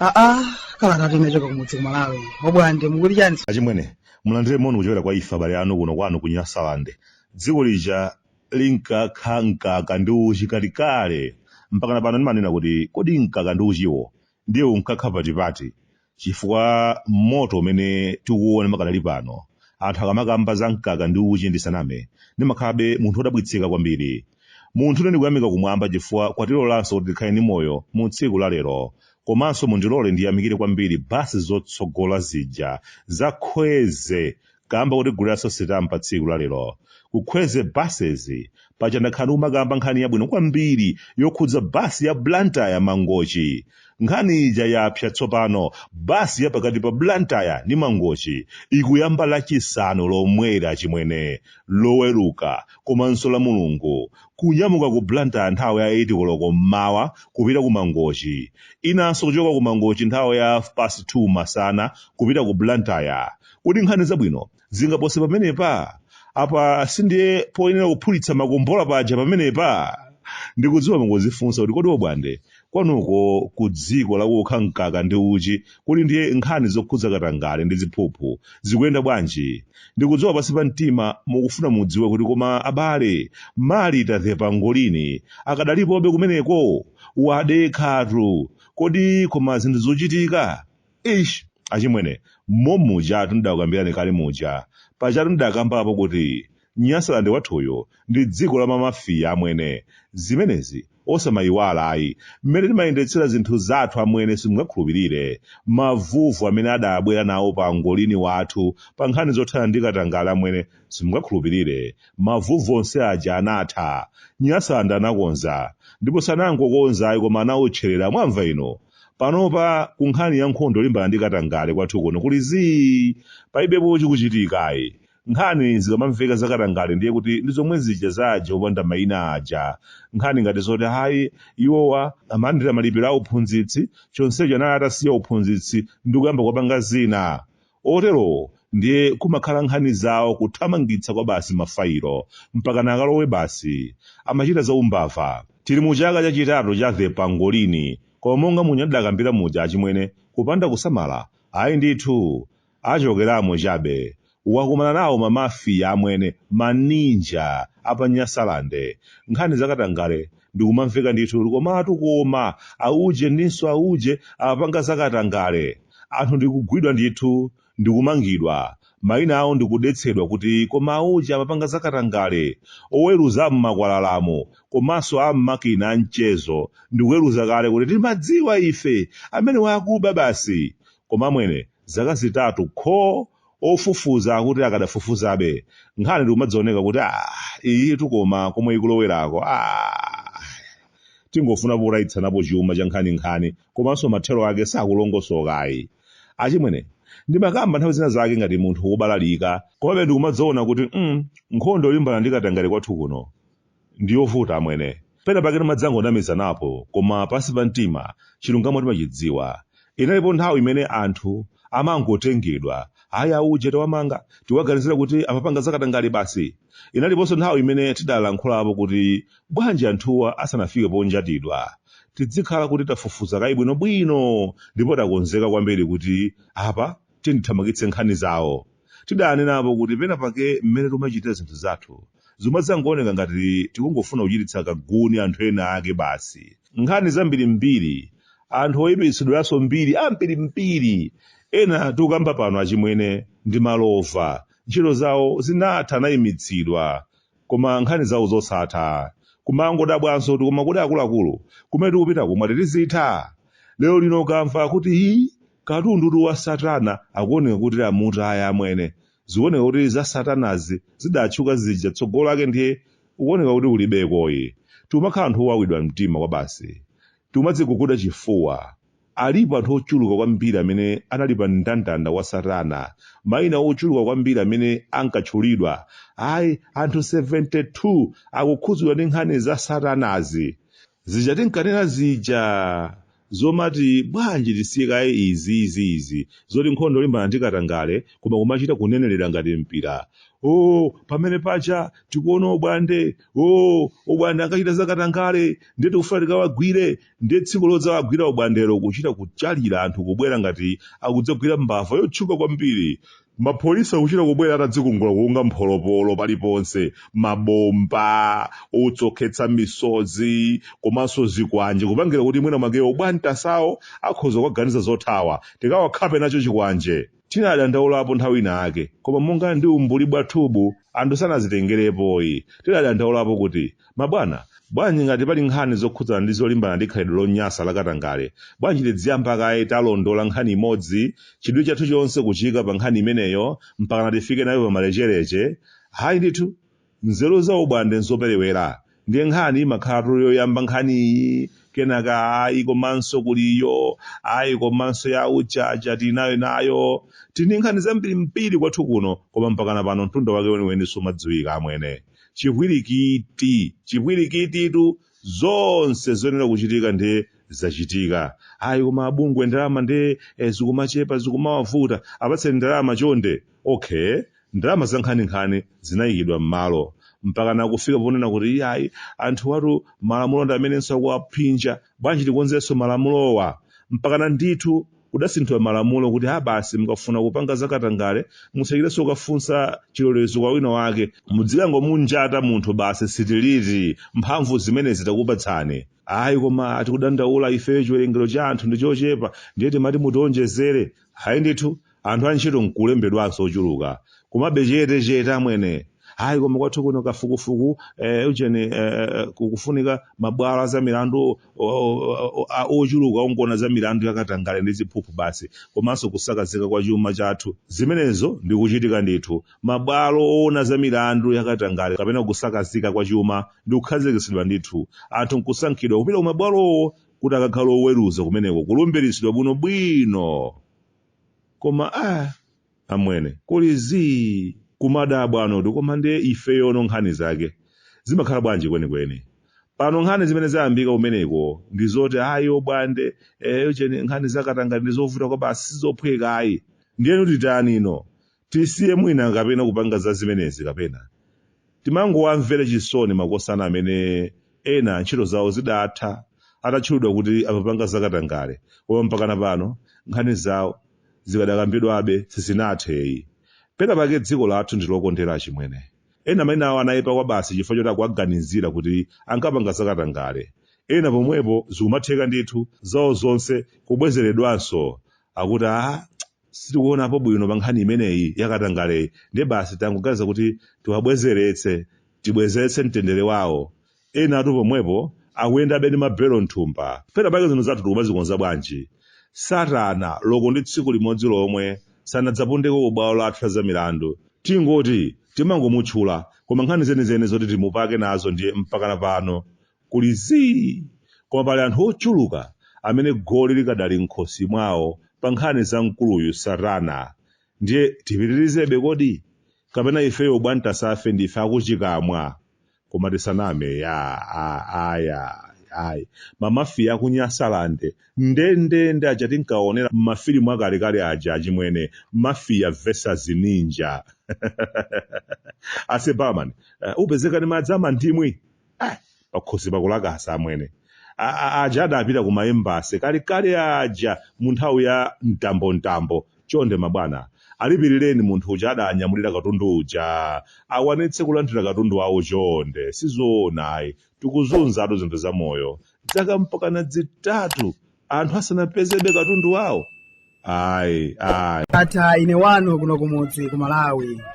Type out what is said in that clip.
aa kalata inachoka kumudzi kumalawi obwande mukuti chani achimwene mulandire moni kuchokera kwa ife abale anu kuno kwanu ku nyasalande dziko lija linkakha mkaka ndi uchi kalekale mpakana pano ndimanena kuti kodi mkaka ndi uchiwo ndiye unkakha patipati chifukwa moto umene tikuwuona pakadali pano anthu akamakamba za mkaka ndi uchi ndisaname ndimakhalabe munthu wodabwitsika kwambiri munthu ine ndikuyamika kumwamba chifukwa kwatilolanso kuti tikhale ndi moyo mu tsiku la lero komanso mundilole ndiyamikire kwambiri basi zotsogola zija za kwezy kamba kotiguliraso sitampa tsiku la lero ku Kwezy buses paja ndakhala ndikumakamba nkhani yabwino kwambiri yokhudza basi ya Blantyre Mangochi nkhani ija yapsa tsopano basi ya pakati pa Blantyre ndi Mangochi ikuyamba lachisanu lomweli achimwene loweruka komanso la mulungu kunyamuka ku Blantyre nthawi ya 8 koloko mmawa kupita ku Mangochi inanso kuchoka ku Mangochi nthawi ya half past 2 masana kupita ku Blantyre Kodi nkhani zabwino zingapose pamenepa? Apa sindiye poyenera kuphulitsa makombola paja pamenepa? Ndikudziwa mukuzifunsa kuti kodi obwande kwanuko ku dziko lakukha mkaka ndi uchi kodi ndiye nkhani zokhudza katangale ndi ziphuphu zikuyenda bwanji? Ndikudziwa pansi pa mtima mukufuna mudziwe kuti koma abale Marita The Pangolini akadalipobe kumeneko? Wadekhatu. Kodi koma zinthu zochitika? ish achimwene momujatu ndidakukambirani kale muja pajatu ndidakambapo kuti nyasalande wathuyu ndi dziko la mamafiya amwene zimenezi osamayiwala ayi mmene timayendetsera zinthu zathu amwene simungakhulupirire mavuvu amene adabwera nawo pangolini wathu pa nkhani zothana ndi katangale amwene simungakhulupirire mavuvu onse aja anatha nyasalande anakonza ndipo sanangokonza ayi koma anawotcherera mwamva inu panopa ku nkhani ya nkhondo yolimbana ndi katangale kwathu kuno kuli zii palibepo chikuchitika ayi nkhani zikamamveka zakatangale ndiye kuti ndi zomwe zija za aja opanda mayina aja nkhani ngati zoti hayi iwowa amalandira malipiro a uphunzitsi chonsecho anali atasiya uphunzitsi ndi kuyamba kupanga zina Oterowo ndiye kumakhala nkhani zawo kuthamangitsa kwabasi mafayilo mpakana akalowe basi. Amachita za umbava. Tili mu chaka cha chitatu cha The Pangolini koma monga muja ndidakambira muja achimwene kupanda kusamala ayi ndithu achokeramo chabe. Wakumana nawo ma Mafia amwene, ma Ninja a pa Nyasalande. Nkhani za katangale ndikumamveka ndithu komatu koma auje ndinso auje apanga zakatangale anthu ndikugwidwa ndithu ndikumangidwa mayina awo ndikudetsedwa kuti koma auje amapanga zakatangale oweruza am'makwalalamo komanso am'makina amchezo ndikuweruza kale kuti timadziwa ife amene wakuba basi koma amwene zaka zitatu kho Ofufuza akuti akadafufuzabe, nkhani ndikumadzaoneka kuti aah iyitu koma komwe ikulowerako aah tingofuna potayitsanapo chuma cha nkhaninkhani komanso mathero ake sakulongosoka ayi. Achimwene, ndimakamba nthawi zina zake ngati munthu wobalalika komabe ndikumadzaona kuti mm nkhondo yolimbana ndi katangale kwathu kuno, ndiyovuta amwene. Pena pake timadzangonamizanapo koma pansi pa mtima chilungamo timachidziwa. Inalipo nthawi imene anthu amangotengedwa, ayi auje tawamanga, tiwaganizira kuti amapanga zakatangale basi. Inaliponso nthawi imene tidalankhulapo kuti bwanji anthuwa asanafike ponjatidwa, tidzikhala kuti tafufuza kaye bwinobwino ndipo takonzeka kwambiri kuti apa tidzithamangitse nkhani zawo. Tidanenapo kuti pena pake mmene timachitira zinthu zathu zimadzangooneka ngati tikungofuna kuchititsa kaguni anthu ena ake basi. Nkhani zambirimbiri, anthu oipitsidwiranso mbiri ambirimbiri, ena tikukamba pano achimwene ndi malova, ntchito zawo zinatha anaimitsidwa, koma nkhani zawo zosatha. Kumangodabwanso kuti koma kodi akuluakulu, kumene tikupitaku mwati tizitha? Lero lino ukamva kuti ii, Katundutu wa satana akuoneka kuti amutaya amwene. Zikuoneka kuti za satanazi zidatchuka zija tsogolo lake ndiye kukuoneka kuti kulibekoyi. Tikumakhala anthu owawidwa mtima kwabasi. Tikumadziguguda chifuwa. Alipo anthu ochuluka kwambiri amene anali pa mndandanda wa satana. Maina ochuluka kwambiri amene ankatchulidwa. Ayi, anthu 72 akukhudzidwa ndi nkhani za satanazi. zija tinkanena zija zomati bwanji tisiye kaye izi izi izi zoti nkhondo yolimbana ndi katangale koma kumachita kunenerera ngati mpira o pamene paja tikuona obwande o obwande ankachita za katangale ndiye tikufuna tikawagwire ndiye tsiku lodzawagwira obwandelo kuchita kuchalira anthu kubwera ngati akudzagwira mbava yotchuka kwambiri mapolisi akuchita kubwera atadzikungula kukunga mpholopolo paliponse mabomba otsokhetsa misozi komanso zikwanje kupangira kuti mwina mwake obwantasawo akhoza kukaganiza zothawa tikawakhape nacho chikwanje tinadandaulapo nthawi ina ake koma monga ndi umbuli bwathubu anthu sanazitengerepoyi tidadandaulapo kuti Mabwana, bwanji ngati pali nkhani zokhudzana ndi zolimbana ndi khalidwe lonyansa la katangale, bwanji tidziyamba kaye talondola nkhani imodzi, chidwi chathu chonse kuchiika pa nkhani imeneyo, mpakana tifike nayo pa malecheleche? Hayi ndithu! Nzeru za ubwande n'zoperewera, ndiye nkhani imakhalatu yoyamba nkhani iyi, kenaka ayi komanso kuli iyo, ayi komanso ya uja aja tili nayo nayo. Tili ndi nkhani zambirimbiri kwathu kuno, koma mpakana pano mtunda wake weniweni sumadziwika, amwene. chipwirikiti chipwirikititu zonse zoyenera kuchitika ndiye zachitika ayi koma abungwe ndalama ndiye eh, zikumachepa zikumawavuta apatseni ndalama chonde okay ndalama zankhaninkhani zinayikidwa m'malo mpakana kufika ponena kuti iyayi anthuwatu malamulo ndi amenenso akuwaphinja bwanji tikonzenso malamulowa mpakana ndithu Kudasinthidwa malamulo kuti ha basi mukafuna kupanga za katangale musachitenso kukafunsa chilolezo kwa wina wake mudzikangomunjata munthu basi sitiliti mphamvu zimenezi takupatsani ayi koma tikudandaula ifeyo chiwerengero cha anthu ndi chochepa ndiye timati mutionjezere ayi ndithu anthu antchito nkulembedwanso ochuluka komabe chete chete amwene hayi koma kwathu kuno kafukufuku eh, ujeni eh, eh, kukufunika mabwalo a za milandu o- o- o- a- ochuluka ongoona za milandu yakatangale ndi ziphuphu basi komanso kusakazika kwa chuma chathu zimenezo ndi kuchitika ndithu mabwalo oona za milandu yakatangale kapena kusakazika kwa chuma ndi kukhazikitsidwa ndithu anthu nkusankhidwa kupita ku mabwalowo kuti akakhale oweruza kumeneko kulumbiritsidwa bwinobwino koma ah, amwene kuli zii kumadabwanotu koma ndiye ifeyono nkhani zake zimakhala bwanji kwenikweni pano nkhani zimene zayambika kumeneko ndi zoti ayi obwande eh ujeni nkhani zakatangale ndi zovuta kwabasi sizophweka ayi ndiyeno titanino tisiye mwina kapena kupanga za zimenezi kapena timangowamvere chisoni makosana amene ena ntchito zawo zidatha atatchulidwa kuti amapanga zakatangale koma mpakana pano nkhani zawo zikadakambidwabe sizinathe ayi. Pena pake dziko lathu ndilokondera achimwene. Ena maina awo anaipa kwabasi chifukwa choti akuwaganizira kuti ankapanga zakatangale. Ena pomwepo zikumatheka ndithu zawo zonse kubwezeredwanso akuti aah sitikuonapo bwino pankhani imeneyi yakatangaleyi ndiye basi tangoganiza kuti tiwabwezeretse tibwezeretse mtendere wawo. enatu pomwepo akuyendabe ndi mabelo m'thumba pena pake zinthu zathu tikumazikonza bwanji satana loko ndi tsiku limodzi lomwe sanadzapondeko ku bwalo lathu la zamilandu tingoti timangomutchula koma nkhani zenizeni zoti timupake nazo ndiye mpakana pano kuli zii koma pali anthu ochuluka amene goli likadali m'khosi mwawo pa nkhani za mkuluyu satana ndiye tipitirizebe kodi kapena ifeyo bwantasafe ndife akuchikamwa koma tisaname ya a aya ayi mamafiya aku Nyasaland ndendende aja tinkaonera mmafilimu akalekale aja achimwene mafiya versus ninja ase barman eh, upezeka ndi madzi amandimu Ah, pakhosi pakulakasa amwene A- a- aja adapita ku maembasi kalekale aja mu nthawi ya mtambo mtambo Chonde mabwana, alipilireni munthu uja adanyamulira katundu uja. Akwanitse kulandira katundu wawo chonde. Sizoona ayi. Tikuzunzatu zinthu za moyo. Dzaka mpakana zitatu anthu asanapezebe katundu wawo? Ayi, ayi. Ndatha ine wanu kuno kumudzi ku Malawi.